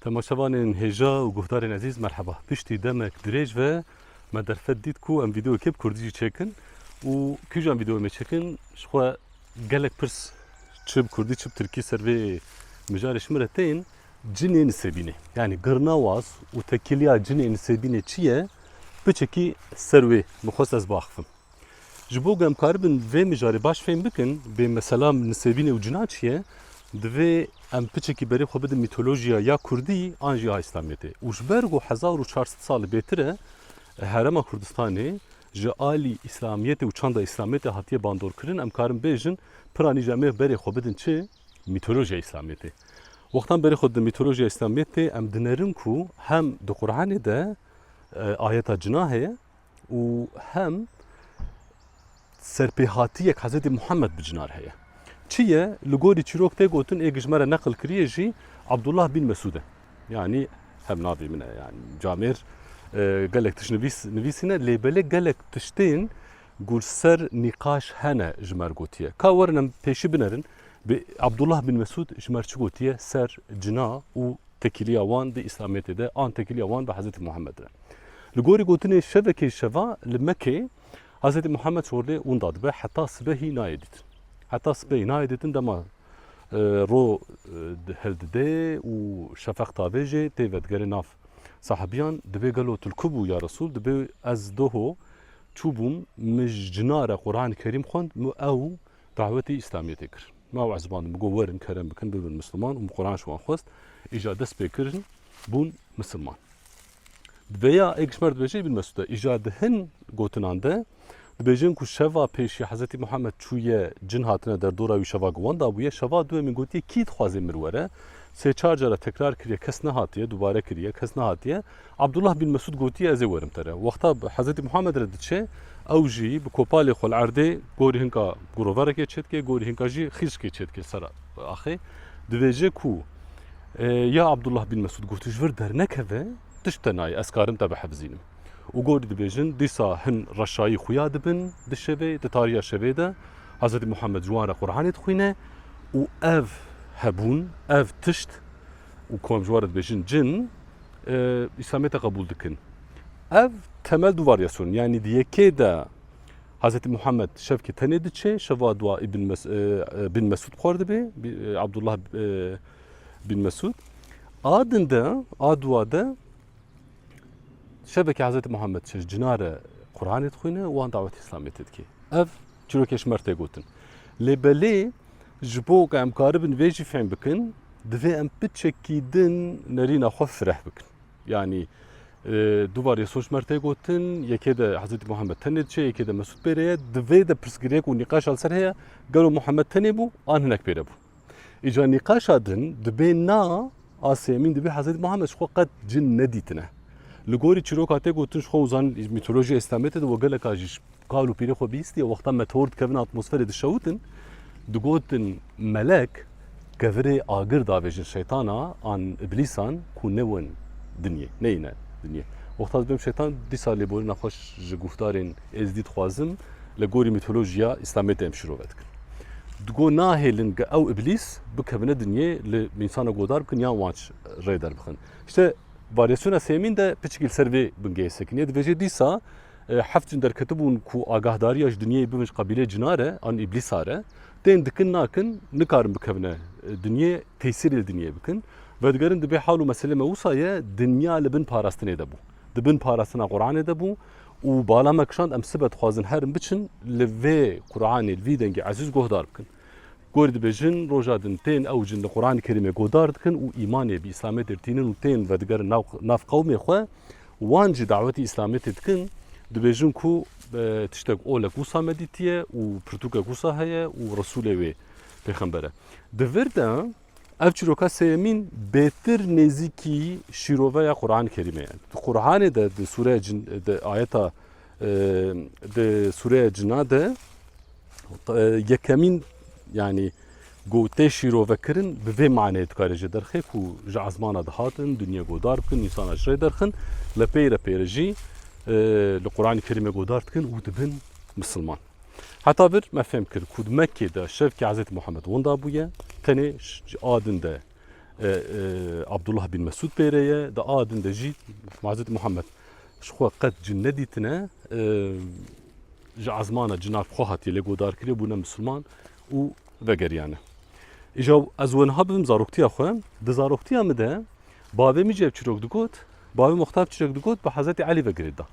Temaşevanên hêja û guhdarên ezîz merheba. Piştî demek dirêj ve me derfet dît ku em vîdeoyekê bi kurdî jî çêkin û kîjan vîdeoyê me çêkin ji xwe gelek pirs çi bi kurdî çi bi tirkî ser vê mijarê ji min re tên. Cinê Nisêbînê yanî girnawaz û tekîliya cinê Nisêbînê çi ye biçikî ser wê bi xwest ez biaxivim. Ji bo ku em karibin vê mijarê baş fêm bikin, bê mesela nisêbînê û cina çi ye, divê em piçekî berê xwe bidin mîtolojiya ya kurdî an jî a îslamiyê tê. Û ji ber ku hezar û çar sed salî bêtir e herêma Kurdistanê ji alî îslamiyê tê û çanda îslamiyê tê hatiye bandorkirin, em karin bêjin piranî jî em ê berê xwe bidin çi? Mîtolojiya îslamiyê tê. Wextan berê xwe didin mîtolojiya îslamiyê tê, em dinerin ku hem di Quranê de ayeta cina heye, û hem serpêhatiyek Hezretî Muhammed bi cinar heye. Çi ye? Li gorî çîrok tê gotin ê gijmere neqil kiriye jî Abdullah bin Mesûd e. Yanî hev navê min e. Yanî camêr e, gelek tişt nivîs nivîsîne lê belê gelek tiştên gul ser nîqaş hene ji mer gotiye. Ka werin em pêşî binerin bi Abdullah bin Mesûd ji mer çi gotiye ser cina û tekîliya wan di Îslamiyetê de an tekîliya wan bi Hezretî Muhammed re. Li gorî gotinên şevekê şeva li Mekê Hezretî Muhammed Çorlê ûnda dibe heta sibehî nayê dîtin. Heta sibehî nayê dîtin dema ro hildidê û şefeq tavê jê tê vedigerê nav. Sahibiyan dibê gelo tu li ku bû ya Resul dibê ez doho çûbûm min ji cina re Quranê Kerîm xwend min ew dawetê îslamiyetê kir. Ma ew ezibandin min got werin kerem bikin bibin misliman û min Quran ji wan xwest îja dest pê kirin bûn misilman. Di vêya ê Kişmer dibêje Îbn Mesûd e. Îja di hin gotinan de dibêjin ku şeva pêşî Hezretî Muhammed çûye cin hatine derdora wî şeva ku wan dabûye, şeva duyemîn gotiye kî dixwaze min were? Sê çar care tekrar kiriye kes nehatiye, dubare kiriye kes nehatiye. Abdullah bin Mesûd gotiye ez ê werim te re. Wexta Hezretî Muhammed re diçe ew jî bi kopalê xwe li erdê gorî hinka guroverekê çêdike, gorî hinka jî xîrskê çêdike sera axê. Dibêje ku Ya Abdullah bin Mesud got ji vir dernekeve tişt te nayê ez karim te bihefzînim. Û gorî dibêjin dîsa hin reşayî xuya dibin di şevê di tariya şevê de Hezretî Muhammed ji wan re Quranê dixwîne û ev hebûn ev tişt û kom ji wan re dibêjin cin îslamiyete qebûl dikin. Ev temel du varyasyonên yanî di yekê de Hezretî Muhammed şevkê tenê diçe, şeva dua Îbn Bin Mesûd xwar dibe, Abdullah Bin Mesûd. A din de, a dua de şevekê Hezretî Muhammed çi cina re Quranê dixwîne û wan dawetê Îslamê tê dike. Ev çîrokê ji mer tê gotin. Lê belê ji bo ku em karibin vê jî fêm bikin, divê em piçekî din nerîna xwe fireh bikin. Yanî du var yê soc mer tê gotin, yekê de Hezretî Muhammed tenê diçe, yekê de Mesûd pêre ye. Di vê de pirsgirêk û nîqaşa li ser heye, gelo Muhammed tenê bû an hinek pêre bû? Îca nîqaşa din dibê na asê emîn dibê Hezretî Muhammed ji xwe qet cin nedîtine. Li gorî çîroka tê gotin ji xwe û zanîn mîtolojîya îslamê tê de we geleka jî Kal û pîrê xwe bîstiye wexta meteor dikevin atmosferê dişewitin, digotin melek kevirê agir davêjin şeytana an iblîsan ku newin dinyê, neyine dinyê. Wexta dibim şeytan dîsa lêborîna xwe ji guhdarên êzdî dixwazim li gorî mîtolojiya îslamê tê em şirove dikin. Digo nahêlin ge ew iblîs bikevine dinyê li mînsana godar bikin yan wan rê derbixin. İşte varyasyona sêmîn de piçikî li ser vê bingehê sekiniye dibêje dîsa Heft cin derketibûn ku agahdariya ji dinyeyê bibin ji qebîleyê cinar e an îblîsa re. Tên dikin nakin, nikarin bikevine dinyê, tesîrê li dinyeyê bikin. Vedigerin divê hal û meselê me wisa ye, dinya li bin parastinê de bû. Di bin parastina Quranê de bû û bala me kişand em sibe dixwazin herin biçin li vê Quranê, li vî dengê ezîz guhdar bikin. Gorî dibêjin roja din tên ew cin li Quranê Kerîmê guhdar dikin û îmanê bi Îslamê têr tînin û tên vedigerin nav qewmê xwe Wan jî dawetî îslametê dikin, dibêjin ku tiştek olek wisa medîtî ye û pirtûkek wisa heye û Resûlê wê pêxember e. Di vir de ev çîroka sêyemîn bêtir nêzîkî şîroveya Quran-ê Kerîmê ye. Di Quran-ê de di sûreya cin di ayeta Di sûreya cina de yekemîn yanî got tê şîrovekirin bi vê maneyê dikare jê derxê ku ji ezmana dihatin dunya godar bikin însana ji rê derxin li pêre pêre jî li Quranê Kerîmê godar dikin û dibin misilman. Heta vir me fêm kir ku di Mekkê de şevkê Hezreti Muhammed winda bûye tenê a din de Abdullah bin Mesud pêre ye di a din de jî Hezreti Muhammed Ji xwe qet cin nedîtine, ji ezmana cinak bi xwe hatiye lê godarkirî bûne misilman û vegeriyane. Îja ez weniha bibim zaroktiya xwe, di zaroktiya min de bavê min cevçî rok digot, bavê Muxtar çirek digot bi Hezretî Elî vegirê da.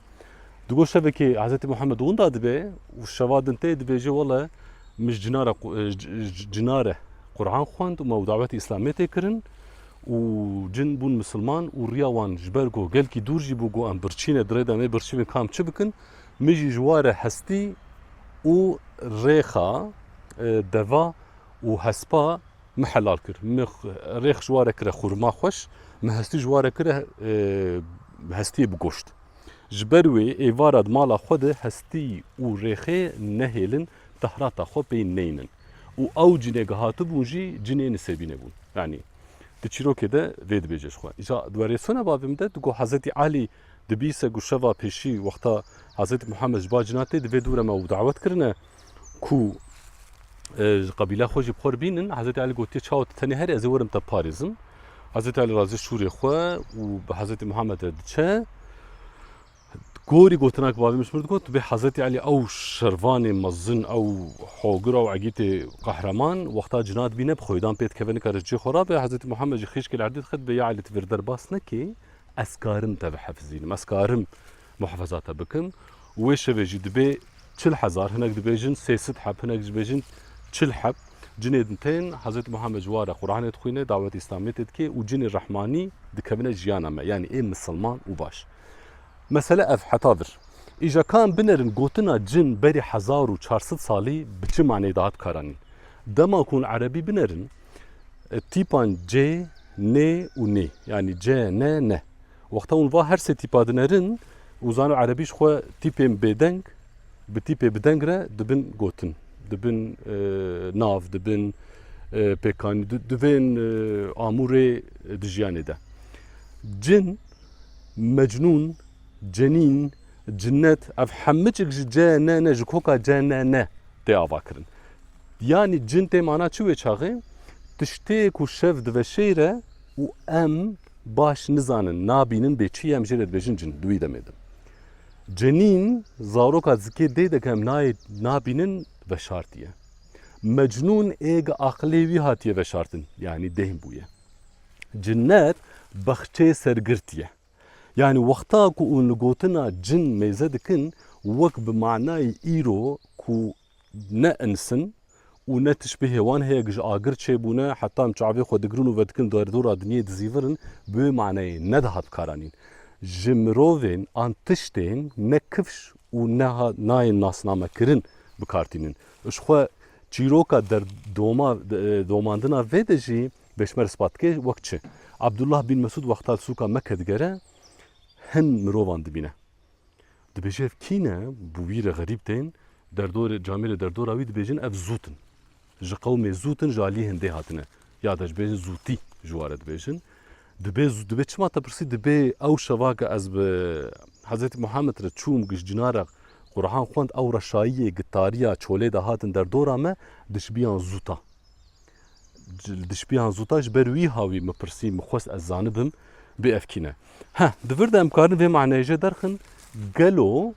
Digo şevekê Hezretî Muhammed winda dibe û şeva din tê dibêje wele min ji cinare Qur'an xwend û me û dawetê Îslamê tê kirin û cin bûn misilman û riya wan ji ber ku gelkî dûr jî bû ku em birçîne di rê de em ê birçînin ka em çi bikin, min jî ji wa re hestî û rêxa e, deva û hespa min helal kir. Min rêx ji wa re kire xurma xweş, min hestî ji wa re kire e, hestiyê bi goşt. Ji ber wê êvara di mala xwe de hestî û rêxê nehêlin Tahrata xwe pey neynin û ew cinêk hatibûn jî cinê nisêbî nebûn. Yanî di çîrokê de vê dibêje ji xwe. Îca di werêsona bavê de digo Hezretî Elî dibîse ku şeva pêşî wexta Hezretî Muhammed ji ba cina tê di vê dûre me û dawet kirine ku ji qebîleya xwe jî bi xwe re bînin. Hezretî Elî gotiye çawa tu tenê herî ez ê werim te parêzim. Hezretî Elî razê şûrê xwe û bi Hezretî Muhammed re diçe. Gorî gotina ku bavê min ji min re digot, tu bê Hezretî Elî ew şervanê mezin, ew hogir, ew egîtê qehreman, wexta cina dibîne bi xwedan pê dikeve nikare ji cihê xwe re be. Hezretî Muhammed jî xîşkê li erdê dixê dibe, ya Elî tu vê li der bas nekê, ez karim te bihefizînim, ez karim muhefaza te bikim û wê şevê jî dibe çil hezar, hinek dibêjin sê sed heb, hinek jî dibêjin çil heb cinê din tên. Hezretî Muhammed ji ware Quranê dixwîne, dawetê Îslamiyetê dike û cinê rehmanî dikevine jiyana me, yanî ê misilman û baş. Mesele ev heta vir. Îja ka em binerin gotina cin berî hezar û çar sed salî bi çi maneyê dihat karanîn. Dema ku hûn erebî binerin e, tîpan cê, nê û nê yanî ce, ne, ne. Wexta hûn va her sê tîpa dinerin û zano erebî ji xwe tîpên bêdeng bi tîpê bi deng re dibin gotin, dibin e, nav, dibin e, pêkanî, di- divên e, amûrê di jiyanê de. Cin Mecnûn, Cenîn, Cinnet ev hemicik ji ce ne ne ji koka ce ne ne tê avakirin. Yanî cin tê mana çi wê çaxê? Tiştê ku şev diveşêre û em baş nizanin, nabînin bê çi ye em jê re dibêjin cin di wî demê de. Cenîn zaroka zikê dê de ku em nayê nabînin veşartiye. Mecnûn ê gi aqilê wî hatiye veşartin yanî dêhn bûye. Cinnet bexçeyê sergirtî ye. Yanî wexta ku ûn li gotina cin mêze dikin wek bi manayê îro ku ne ins in û ne tişbî hêwan heye ku ji agir çêbûne heta em çavê xwe digirin û vedikin derdora dinyê dizîvir in bi wê manayê nedihat bikaranîn. Ji mirovên an tiştên ne kifş û ne nayên nasnamekirin bikar tînin. Ji xwe Çîroka derdoma domandina vê de jî Beşmer ispat dike wek çi Abdullah bin Mesûd wexta li sûka Mekke digere hin mirovan dibîne. Dibêje ev kî ne bi wî re xerîb tên, derdorê camêrê derdora wî dibêjin ev zût in. Ji qewmê zût in ji aliyê hindê hatine. Ya de jibêjin zûtî ji ware dibêjin. Dibê zû dibê çima te pirsî dibê ew şeva ke ez bi Hezretî Muhammed re çûm giş cina re Qur'an xwend ew reşayiyê gitariya çolê de hatin derdora me dişbiyan zûta. Li dişbiyan zûta ji ber wî ha wî min pirsî min xwest ez zanibim bê evkîne. Heh di vir de em karin vê maneyê jê derxin gelo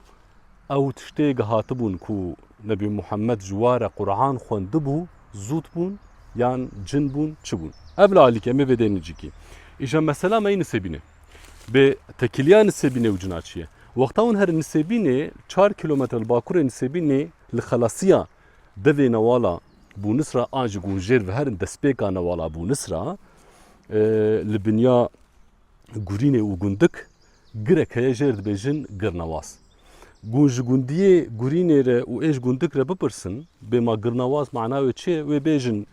Ew tiştê gihatibûn ku Nebî Muhemmed ji wa re Quran xwendibû, zût bûn yan cin bûn çi bûn. Ev li alîkê em ê vê dê nijîkî. Îja mesela me yî nisêbînê. Bê tekiliya nisêbînê û cina çi ye. Wexta hûn herin nisêbînê çar kîlometre li bakurê nisêbînê li xelasiya devê newala Bûnis re an ji gunjêr ve herin destpêka newala Bûnis re li binya Gurînê û Gundik, Girek heye jê re dibêjin Girnewaz. Gûn ji gundiyê Gurînê re û ê ji Gundik re bipirsin, bêma Girnewaz mana wê çi ye, wê bêjin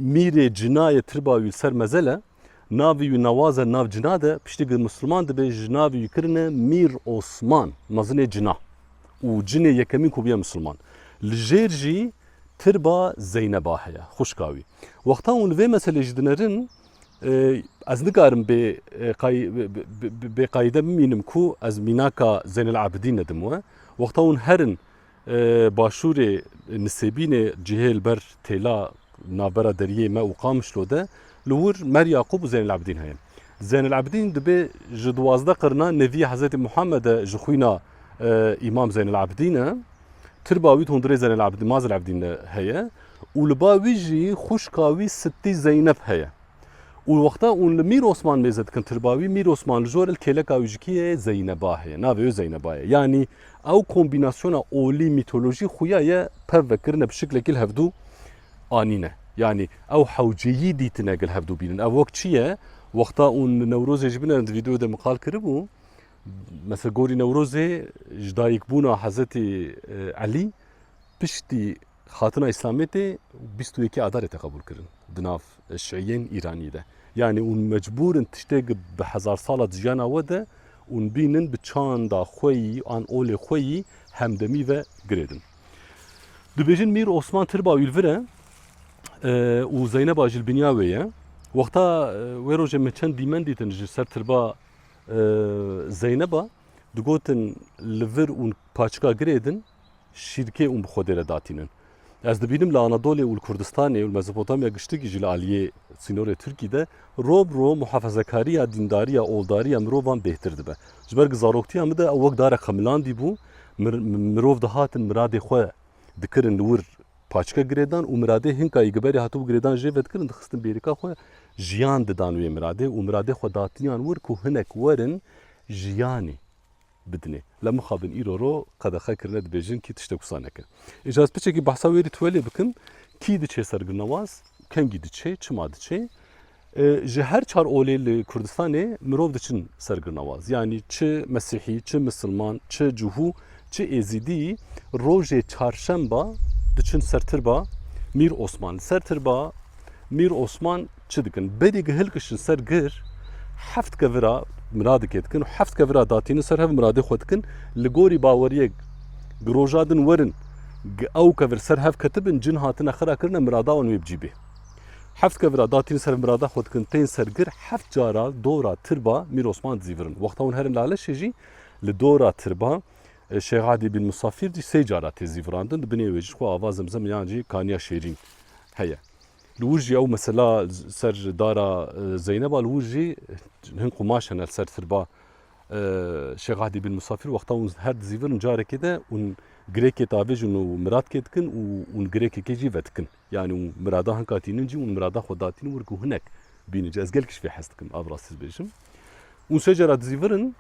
Mîrê cina ye tirba wî li ser mezel e, navê wî Nawaz e li nav cina de, piştî gir misilman dibe ji navê wî kirine Mîr Osman, mezinê cina û cinê yekemîn ku bûye misilman. Li jêr jî tirba Zeyneba heye, xwişka wî. Wexta hûn li vê meselê jî dinerin, Ez nikarim bê bêqayîde bimînim ku ez mînaka Zeynel Abidîn nedim we. Wexta hûn herin başûrê Nisêbînê cihê li ber têla navbera deriyê me û Qamişlo de li wir Mer Yaqûb û Zeynel Abidîn heye. Zeynel Abidîn dibê ji duwazdeh qirina neviyê Hezretî Muhammed e ji xwîna Îmam Zeynel Abidîn e. Tirba wî di hundirê Zeynel Abidîn, Mazel Abidîn de heye. û li ba wî jî xwişka wî Sittî Zeyneb heye û wexta ûn li Mîr Osman mêze dikin tirba wî Mîr Osman li jor il kêleka wî ji kî ye Zeyneba heye navê wê Zeyneba ye yanî ew kombînasyona olî mîtolojî xuya ye pev vekirine bi şiklekî li hevdû anîne yanî ew hewceyî dîtine ku li hevdû bînin ev wek çi ye wexta ûn li Newrozê ji bin em di vîdeoyê de min qal kiribû mesela gorî Newrozê ji dayikbûna Hezetî Elî piştî Xatina Îslamê tê bîst û yekê Adarê tê qebûl kirin di nav Şiîyên Îranî de. Yanî ûn mecbûr in tiştê gi bi hezar sala di jiyana we de ûn bînin bi çanda xwe yî an olê xwe yî hemdemî ve girêdin. Dibêjin Mîr Osman Tirba Wîlvir e û Zeyneba ji li binya wê ye. Wexta wê rojê min çend dîmen dîtin ji ser Tirba Zeyneba digotin li vir ûn paçika girêdin şîrkê û bi Xwedê re datînin. Ez dibînim li Anadolê û li Kurdistanê û li Mezopotamya giştikî jî li aliyê sînorê Tirkî de rov bi rov muhafezekariya dîndariya oldariya mirovan bêhtir dibe. Ji ber ku zaroktiya min de ew wek darek xemilandî bû, mirov dihatin miradê xwe dikirin li wir paçke girêdan û miradê hin ka îgiberî hatibû girêdan jê vedikirin dixistin bêrîka xwe jiyan didan wê miradê û miradê xwe datiyan wir ku hinek werin jiyanê bidinê. La mixabin îro ro qedexe kirine dibêjin kî tiştek wisa neke. Îja ez piçekî behsa wê rî tuwelê bikim, kî diçê ser Gilnewaz, kengî diçê, çima diçê? Ji her çar olê li Kurdistanê mirov diçin ser Gilnewaz. Yanî çi Mesîhî, çi Misilman, çi Cuhû, çi Êzîdî rojê çarşemba diçin ser tirba Mîr Osman. Li ser tirba Mîr Osman Çi dikin? Berî gi hilkişin ser gir, heft kevira miradikê dikin û heft kevira datînin ser hev miradê xwe dikin. Li gorî baweriyek gi roja din werin gi ew kevir ser hev ketibin, cin hatine xira kirine mirada wan wê bi cî bê. Heft kevira datînin ser hev mirada xwe dikin, tên ser gir, heft cara dora tirba Mîr Osman dizîvirin. Wexta hûn herin Laleşê jî li dora tirba Şêx Adî bin Musafîr jî sê cara tê zîvirandin, di binê wê jî xwe ava Zemzem yan jî kaniya şêrîn heye. Li wir jî ew mesela ser dara Zeyneb a li wir jî hin qumaş hene li ser sirba Şêx Ehdî bin Musafîr wexta hûn her dizîvirin carekê de hûn girêkê davêjin û miradkê dikin û hûn girêkekê jî vedikin. Yanî hûn mirada hin ka tînin jî hûn mirada xwe datînin wir ku hinek bînin jî. Ez gelekî ji vê hez dikim, a bi rastî dibêjim. Hûn sê cara dizîvirin.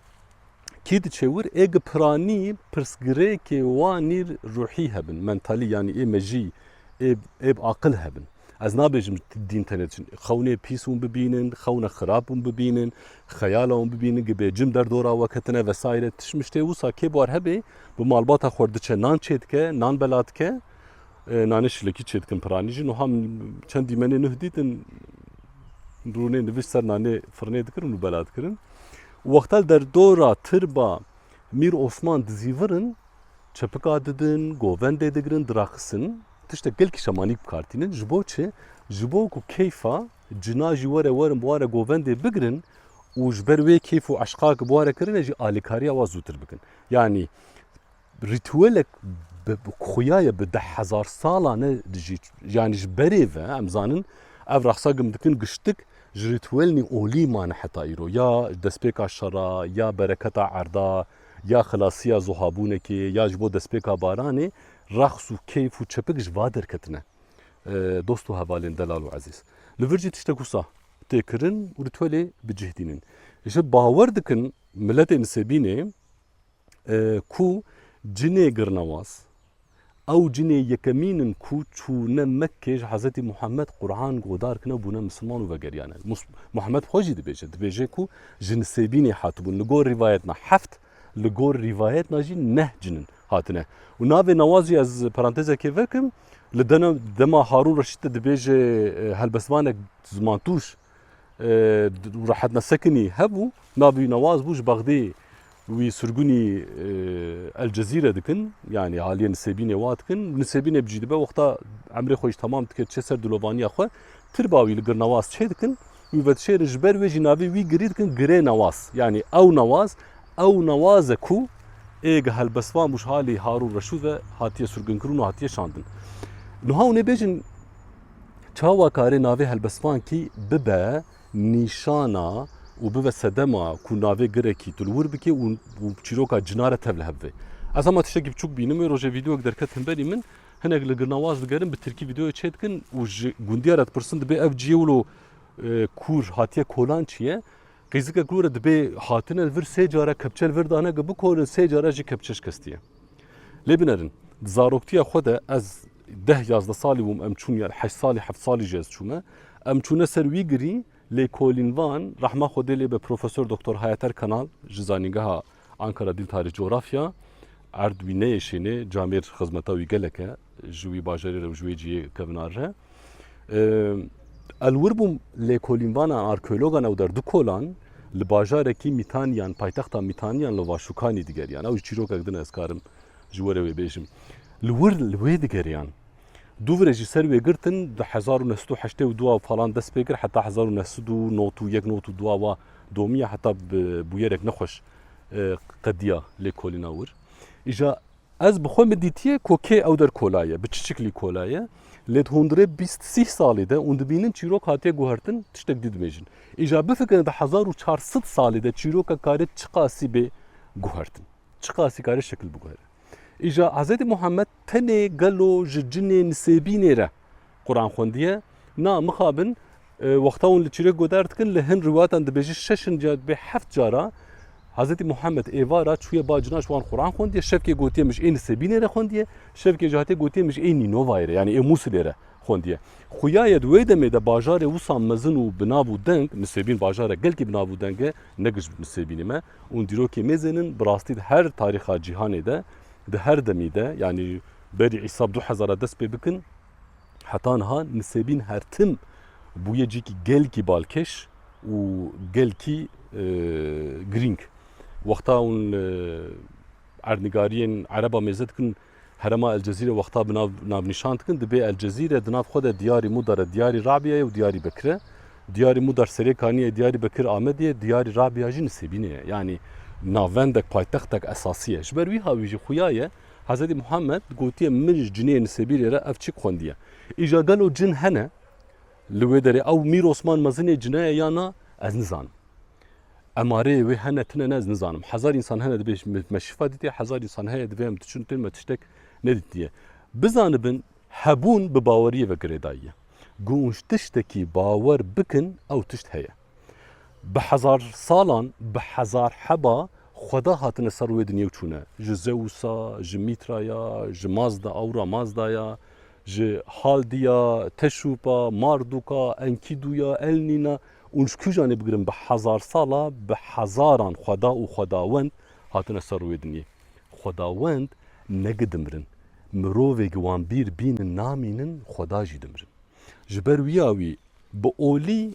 Kî diçe wir ê gi piranî pirsgirêkê wanî ruhî hebin, mentalî yanî ê mejî ê ê bi aqil hebin. Ez nabêjim dîn tenê çin. Xewnê pîs hûn bibînin, xewna xirab hûn bibînin, xeyala hûn bibînin gi bêcim derdora we ketine vesaire tişt mişt ê wisa kê bar hebê bi malbata xwe re diçe nan çê dike, nan bela dike, nanê şilekî çê dikin piranî jî nuha çend dîmenê nuh dîtin rûnê nivîs ser nanê firinê dikirin û bela dikirin. Wexta li der dora tirba Mîr Osman dizîvir in, çepika didin, govendê digirin, diraxistin. Tiştek gelkî şemanîk bikartînin. Ji bo çi? Ji bo ku keyfa cina jî were werin bi ware govendê bigirin û ji ber wê keyf û eşqa ki bi ware kirine jî alîkariya wa zûtir bikin. Yanî Rîtuêlek bi xuya ye bi deh hezar salan e jî yanî ji berê ve em zanin ev rexsa gim dikin giştik ji rîtuêlnî olî mane heta îro ya destpêka şera ya bereketa erda ya xilasiya zuhabûnekê ya ji bo destpêka baranê rex û keyf û çepik ji va derketin e. Dost û hevalên delal û ezîz li vir jî tiştek wisa tê kirin û rîtuêlê bi cih dînin. Ji bawer dikin miletê nisêbînê. ku cinê girine waz. Ew cinê yekemîn in ku çûne Mekkê ji Hezretî Muhemed Quran godar kine û bûne misilman û vegeriyane. Muhemed xwe jî dibêje. Dibêje ku ji Nisêbînê hatibûn. Li gor rivayet na heft, li gor rivayet na jî neh cin in hatine. Û navê Nawaz jî ez parantezekê vekim, li dema Harûn Reşîd de dibêje helbestvanek zimantûş rehet nesekinî hebû navê wî Nawaz bû ji Bexdê wî surgunî El Cezîre dikin yanî aliyê Nisêbînê wa dikin Nisêbînê bicî dibe wexta emrê xwe jî temam dike çê ser dilovaniya xwe tirba wî li gir Nawaz çê dikin wî vedişêrin ji ber wê jî navê wî girî dikin girê Nawaz yanî ew Nawaz ew Nawaz e ku ê ge helbestvan bû ji halê Harûn Reşûd ve hatiye surginkirin û hatiye şandin. Niha hûn ê bêjin Çawa kare navê helbestvankî bibe nîşana û bibe sedema ku navê girekî tu li wir bikê û çîroka cina re tev li hev bê. Ez hema tiştekî biçûk bînim wê rojê vîdeoyek derket himberî min hinek li girnawaz digerin bi tirkî vîdeoyê çê dikin û ji gundîya re dipirsin dibê ev ciyê wilo kûr hatiye kolan çi ye? Qîzikek li wir e dibê hatine li vir sê care kepçe li vir dane ku bikorin sê care jî kepçe şikestiye. Lê binerin, di zaroktiya xwe de ez deh yazdeh salî bûm em çûn yan heşt salî heft salî jî ez çûme. Em çûne ser wî girî lêkolîn van rehma Xwedê lê be Profesor Doktor Hayater Kanal ji Zanîngeha Ankara Dîl Tarîh Cografya erd wî neyê şênê camêr xizmeta wî gelek e. ji wî bajarê re û ji wê ciyê kevna re. Elwir bûm lêkolînvana arkeologan ew der du kolan li bajarekî Mîtaniyan, paytexta Mîtaniyan li Vaşûkanî digeriyan. Ew ji çîrokek din ez karim ji we re wê bêjim. Li wir li wê digeriyan. Dûvire jî ser wê girtin di hezar û neh sed û heştê û duwa falan dest pê kir heta hezar û neh sed û nod û yek nod û duwa wa domiya heta bi bûyerek nexweş qediya lêkolîna wir. Îja Ez bi xwe min dîtiye ku kê ew der kola ye, bi çiçiklî kola ye. Lê di hundirê bîst sîh salî de û dibînin çîrok hatiye guhertin, tiştek dî dimêjin. Îja bifikirine di hezar û çar sed salî de çîroka karê çiqasî bê guhertin. Çiqasî karê şekil biguhere. Îja Hezretî Muhammed tenê gelo ji cinê nisêbînê re. Quran xwendiye. Na mixabin wexta hûn li çîrok goder dikin li hin rivatan dibêje şeşin ca dibê heft cara Hazretî Muhammed êvara çûye ba cina ji wan Quran xwendiye şevkê gotiye min ji ê Nisebînê re xwendiye şevkê jî hatiye gotiye min ji ê Nînovayê re yanî ê Mûsilê re xwendiye. Xuyaye di wê demê de bajarê wisa mezin û bi nav û deng Nisebîn bajarek gelkî bi nav û deng e ne giş Nisebînê me û dîrokê mêzên in bi rastî di her tarîxa cîhanê de di her demî de yanî Berî îsab du hezar a dest pê bikin heta niha nisêbîn her tim bûye cîkî gelkî balkêş û gelkî girîng. Wexta hûn li erdnigariyên ereb a mêze dikin herema El Cezîre wexta bi nav navnîşan dikin dibê El Cezîre di nav xwe de diyarî Mudare, diyarî Rabia ye û diyarî Bekir e. Diyarî Mudar serê kanî ye, diyarî Bekir Amedê ye, diyarî Rabia jî nisêbînê ye. Yanî navendek, paytextek esasî ye. Ji ber wî ha wî jî xuya ye. Hezretî Muhammed gotiye min ji cinê li Sibîrê re ev çik xwendiye. Îja gelo cin hene li wê derê? Ew Mîr Osman mezinê cine ye ya na ez nizanim. Emareyê wê hene tune ne ez nizanim. Hezar însan hene dibê me şifa dîtiye, hezar însan heye divê em diçin tên me tiştek nedîtiye. Bizanibin hebûn bi baweriyê ve girêdayî ye. Ku tiştekî bawer bikin ew tişt heye. Bi hezar salan, bi hezar heba xweda hatine ser wê dinyê û çûne. Ji Zeusa, ji Mîtraya, ji Mazda, Aura Mazdaya, ji Haldiya, Teşûpa, Mardûka, Enkîdûya, Elnîna û ji kûjan ê bigirin bi hezar sala bi hezaran xweda û xwedawend hatine ser wê dinyê. Xwedawend negi dimirin. Mirovêgi wan bîr bînin namînin xweda jî dimirin. Ji ber wiya wî bi olî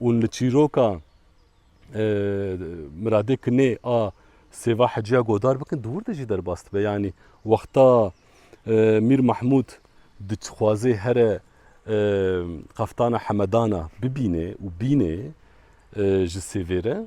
Ûn li çîroka Miradê Kinê a Sêva Hecîya Godar bikin di wir de jî derbas dibe. Yanî wexta Mîr Mehmûd dixwaze here Qeftana Hemedana bibîne û bîne ji Sêvê re,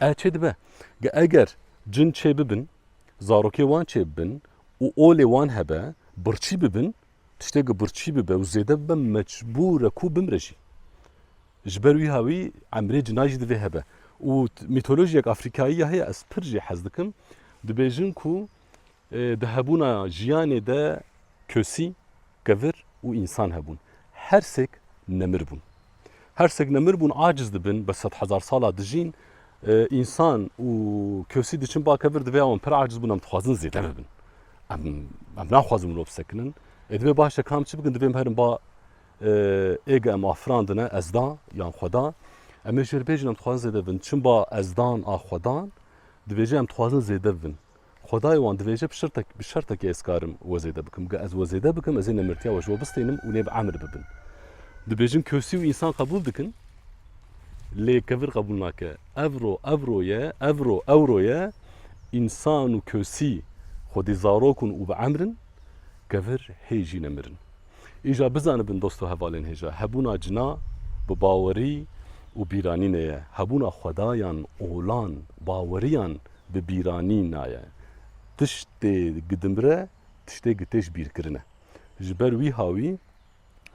Ev çê dibe ke eger cin çê bibin, zarokê wan çê bibin û olê wan hebe, birçî bibin, tiştê ke birçî bibe û zêde bibe mecbûr e ku bimre jî. Ji ber wîha wî emrê cina jî divê hebe. Û mîtolojiyek afrikayî ya heye ez pir jê hez dikim, dibêjin ku Di hebûna jiyanê de kesî, kevir û însan hebûn. Her sêk nemir bûn. Her sêk nemir bûn, aciz dibin, bi sed hezar sala dijîn. Însan û kesî diçin ba kevir divê ya wan pir aciz bûn, em dixwazin zêde bibin. Em em naxwazin mirov bi sekinin. Ê divê baş e kam çi bikin divê em herin ba êga em afirandine ez da yan xwe da. Em ê jêrbêjin em dixwazin zêde bibin. Çin ba ez dan a xwe dan divê jî em dixwazin zêde bibin. Xwedayê wan dibêje bi şirtek, bi şertekê ez karim we zêde bikim. Ge ez we zêde bikim ez ê nemirtiya we ji we bistênim û lê bi emir bibin. Dibêjin kosî û însan qebûl dikin lê kevir qebûl nake. Evro, evro ye, evro, ewro ye, însan û kosî xwedî zarok in û bi emr in, kevir hê jî nemir in. Îja bizanibin dost û hevalên hêja, hebûna cina bi bawerî û bîranî neye, hebûna xwedayan, olan, baweriyan bi bîranî naye. Tiştê gidimre, tiştê gitêj bîrkirine. Ji ber wî hawî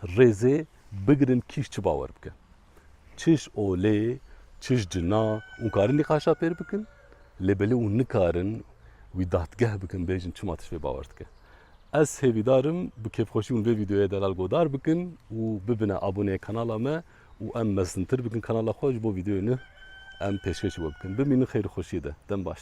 rêzê bigirin kî çi bawer bike. çiş olê, çiş cina û karin nîqaşa pêr bikin, lê belê û nikarin wî dadgeh bikin bêjin çima tişt vê bawer dike. Ez hêvîdar im bi kêfxweşî hûn vê vîdeoyê delal godar bikin û bibine aboneyê kanala me û em mezintir bikin kanala xwe ji bo vîdeoyê nûh em pêşkêşê we bikin. Bimînin xêr û xweşiyê de. Dem baş.